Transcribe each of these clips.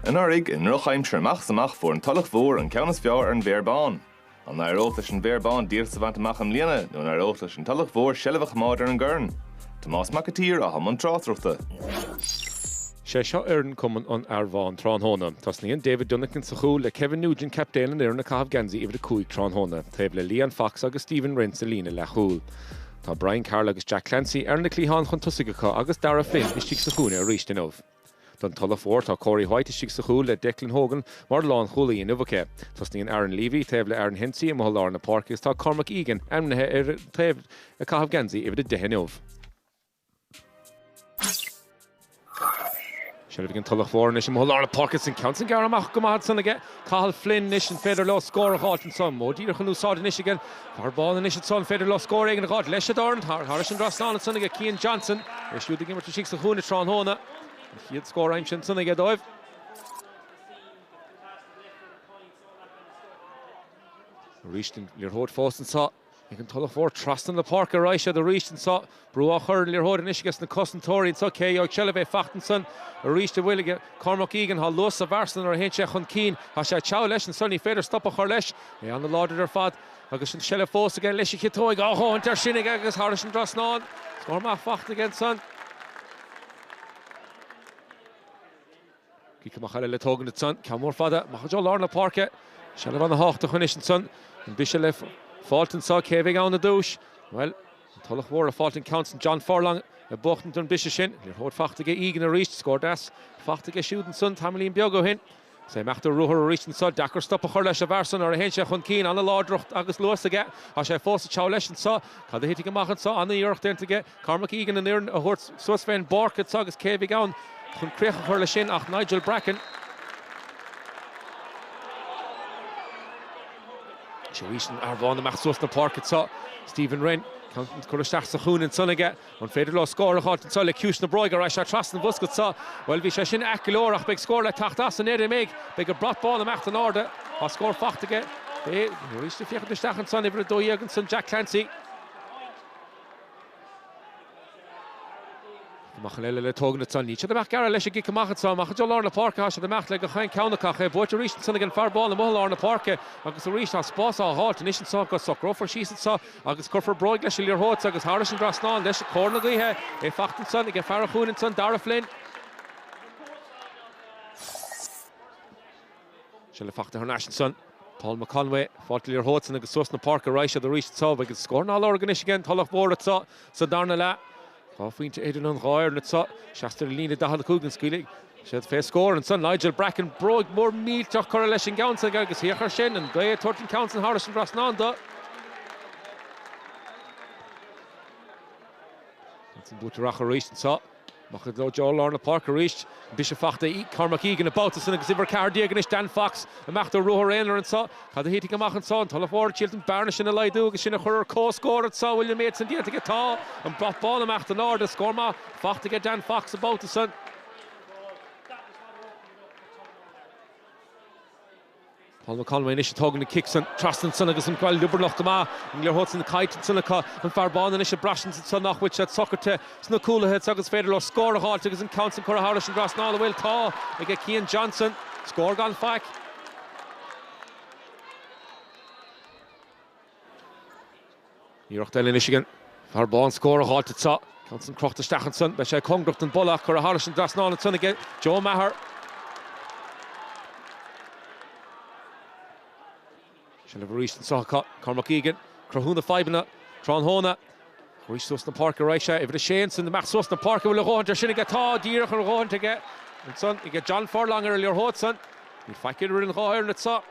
Anuraidh, i ndrochaimsir amach is amach, fuair an Tulach Mhór an ceann is fearr ar an bhFéar Bán. An n-éireodh leis an bhFéar Bán díoltas a bhaint amach i mbliana nó an éireodh leis an Tulach Mhór seilbh a choimeád ar an gcorn? Tomás Mac an tSaoir atá i mbun tráchtaireachta. Sé seo fhoireann cumann an Fhéar Bhán tráthnóna. Tosnaíonn David Dunican sa chúl, le Kevin Nugent captaen an fhoireann ag caitheamh geansaí uimhir a cúig tráthnóna, taobh le Leon Fox agus Stephen Wren sa líne leathchúl. Tá Brian Carroll agus Jack Clancy ar na cliatháin chun tosaigh acu agus Darragh Flynn istigh sa chúinne arís inniu. Don Tulach Mhór tá Corey White istigh sa chúl le Declan Hogan mar lánchúlaí inniu acu. Tosnaíonn Aaron Leavy taobh le Aaron Hensey amuigh i lár na páirce agus tá Cormac Egan ainmnithe ar taobh ag caitheamh geansaí uimhir a deich inniu. Seilbh ag an Tulach Mhór anois amuigh i lár na páirce. An ceann san gearrtha amach go maith ansan aige Cathal Flynn anois. An féidir leo scór a dh'fháilt anso? Modh díreach in úsáid anois ag an Féar Bán anois anso. An féidir leo scór éigin a dh'fháilt? Leis an dorn thairis an dtrasnán ansan aige Cian Johnson. É siúd ag imirt istigh sa chúinne tráthnóna. An chéad scór aimsithe ansan aige dóibh. Arís an liathróid fós anso. Ag an Tulach Mhór trasna na páirce ar aghaidh siad arís anso. Brú á chur ar an liathróid anois ages na cosantóirí anso. Cé a gheobhaidh seilbh? É fachta ansan arís an bhfuil aige Cormac Egan. Tá luas sa bhfear san nuair a théann sé chun cinn. Tá sé ag treabhadh leis anso. Ní féidir stop a chur leis. É an-láidir ar fad agus an tseilbh fós aige. Leis an gciotóig a dhóthaint air sin aige agus thairis an dtrasnán. Scór maith fachta aige ansan. Cic amach eile le tógaint ansan. Ceann mór fada amach go deo lár na páirce. Seilbh ana thábhachtach anois ansan. An briseadh le fáilt anso? Cé a bheidh ann i dtús? Bhuel, an Tulach Mhór ag fáilt an ceann san. John Furlong ag buachtaint an briseadh sin. Liathróid fachta aige Egan aríst. Scór deas fachta aige siúd ansan tamaillín beag ó shin. Is é ag imeacht ar ruathar aríst anso. Deacair stop a chur leis an bhfear san nuair a théann sé chun cinn. Ana láidreacht agus luas aige. Tá sé fós ag treabhadh leis anso. Cad a thitfidh amach anso? Ana iarracht déanta aige. Cormac Egan an fhoireann a thabhairt suas fén bpáirc agus agus cé a bheidh ann chun críoch a chur leis sin ach Nigel Bracken. Seo anois an Féar Bán amach suas na páirce anseo, Stephen Wren. Ceann á chur isteach sa chúinne ansan aige. An féidir leo scór a fháilt anseo le ciumhais na bróige? Ar ais sé trasna an bhosca anseo. Bhuel, bhí sé sin ait go leor ach beidh scór le teacht as b'fhéidir, an mbeidh. Beidh an brat bán ag imeacht in airde. Tá scór fachta aige. Beidh. Arís ag féachaint isteach anseo in uimhir a dó dhéag ansan, Jack Clancy. amach eile le tógaint ansan. Níl siad ag imeacht gearra leis an gcic amach ansan. Amach go lár na páirce atá siad ag imeacht le gach aon cheann acu. Ach é buaite arís ansan ag an Féar Bán amuigh i lár na páirce. Agus arís tá spás á dh'fháilt anois ansan go socrófar síos ansan agus cuirfear bróig leis an liathróid agus thairis an dtrasnán leis cóir na gaoithe. É fachta ansan aige fear an chúinne ansan, Darragh Flynn. Seilbh fachta thar n-ais ansan. Paul McConway, fáilt liathróid san agus suas na páirce a raghaidh siad arís anso. Agus scóranna á lorg anois aige an Tulach Mhór anso sa darna leath. Dhá phointe idir an dhá fhoireann anso. Isteach thar líne 45 an scaoilfidh siad fé scór ansan. Nigel Bracken, bróig mhór millteach curtha leis an gceann san aige agus féach air sin an ghaoth ag tabhairt an ceann san thairis an dtrasnán dó. Ansan bua to Rachadh arís anso. Amach i dtreo lár na páirce arís. An briseadh fachta ag Cormac Egan an babhta san agus uimhir 14 aige anois, Dan Fox. Imeacht ar ruathar aonair anseo. Cad a thitfidh amach anseo? An Tulach Mhór ag triailt an bearna sin a laghdú agus sinn a chur ar comhscór anseo. Bhfuil an méid san déanta aige? Tá. An brat bán ag imeacht in airde. Scór maith fachta aige Dan Fox an babhta san. Paul McConway anois ag tógaint an cic san. Trasna ansan agus an ghabháil liobarnach go maith. An liathróid san caillte ansan acu. An Féar Bán anois ag braistint ansan nach bhfuil siad socairte sna cúlaithe acu agus féidir leo scór a dh'fháilt agus an ceann san curtha thairis an dtrasnán, an bhfuil, tá, aige Cian Johnson. Scór gan faic. Iarracht eile anois ag an bhFéar Bán an scór a dh'fháilt anso. An ceann san crochta isteach ansan. Beidh sé cóngarach don bpolla ach curtha thairis an dtrasnán ansan ag Joe Maher. Seilbh arís anso acu. Cormac Egan. Cruthú na fadhbanna tráthnóna. Arís suas na páirce a raghaidh sé. Uimhir a sé ansan amach suas an páirc. An bhfuil a dhóthaint ar sin aige? Tá. Díreach a dhóthaint aige ansan. Aige John Furlong ar an liathróid san. Níl faic ar an dhá fhoireann anso.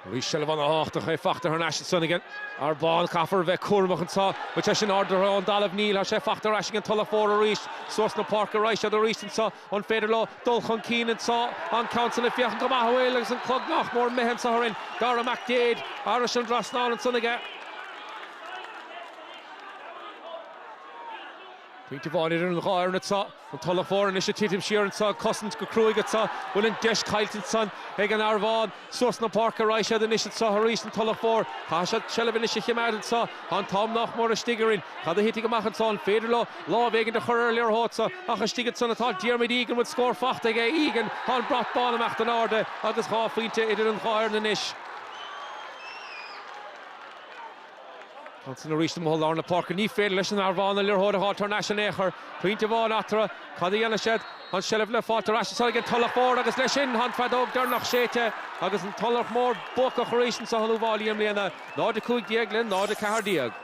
Arís seilbh an-tábhachtach fachta thar n-ais ansan aige an bhFéar Bán. Caithfear bheith cúramach anseo. Bhfuil sé sin ardaithe ón dtalamh? Níl. Thá sé fachta ar ais aige an Tulach Mhór arís. Suas na páirce a raghaidh siad arís anseo. An féidir leo dul chun cinn anseo? An ceann san ag féachaint go maith, an bhfuil, agus an clog nách mór imithe anseo orainn. Daire McDaid thairis an dtrasnán ansan aige. Pointe amháin idir an dhá fhoireann anseo, an Tulach Mhór anois ag titim siar anseo, ag cosaint go cruaidh anseo. Bhfuil an deis caillte anseo ag an bhFéar Bán? Suas na páirce a raghaidh siad anois anseo arís, an Tulach Mhór. Caithfidh siad seilbh anois a choimeád anseo. Tá an t-am nach mór istigh orainn. Cad a thitfidh amach anseo? An féidir leo lámh éigin a chur ar an liathróid seo? Ach istigh ansan atá Diarmuid Egan. Bhfuil scór faighte aige? Egan. Tá an brat bán ag imeacht in airde agus dhá phointe idir an dhá fhoireann anois. Ansin arís i mbarr lár na páirce, ní féidir leis an bhFéar Bán an liathróid a fháil thar n-ais in aon chor. Pointe amháin eatarthu. Cad a dhéanfaidh siad? An seilbh le fáilt ar ais anseo ag an Tulach Mhór agus leis sin, tá an feadóg deireanach séidte agus an Tulach Mhór buacach arís anseo in Uíbh Fháilí i mbliana, 0-15 le 0-14.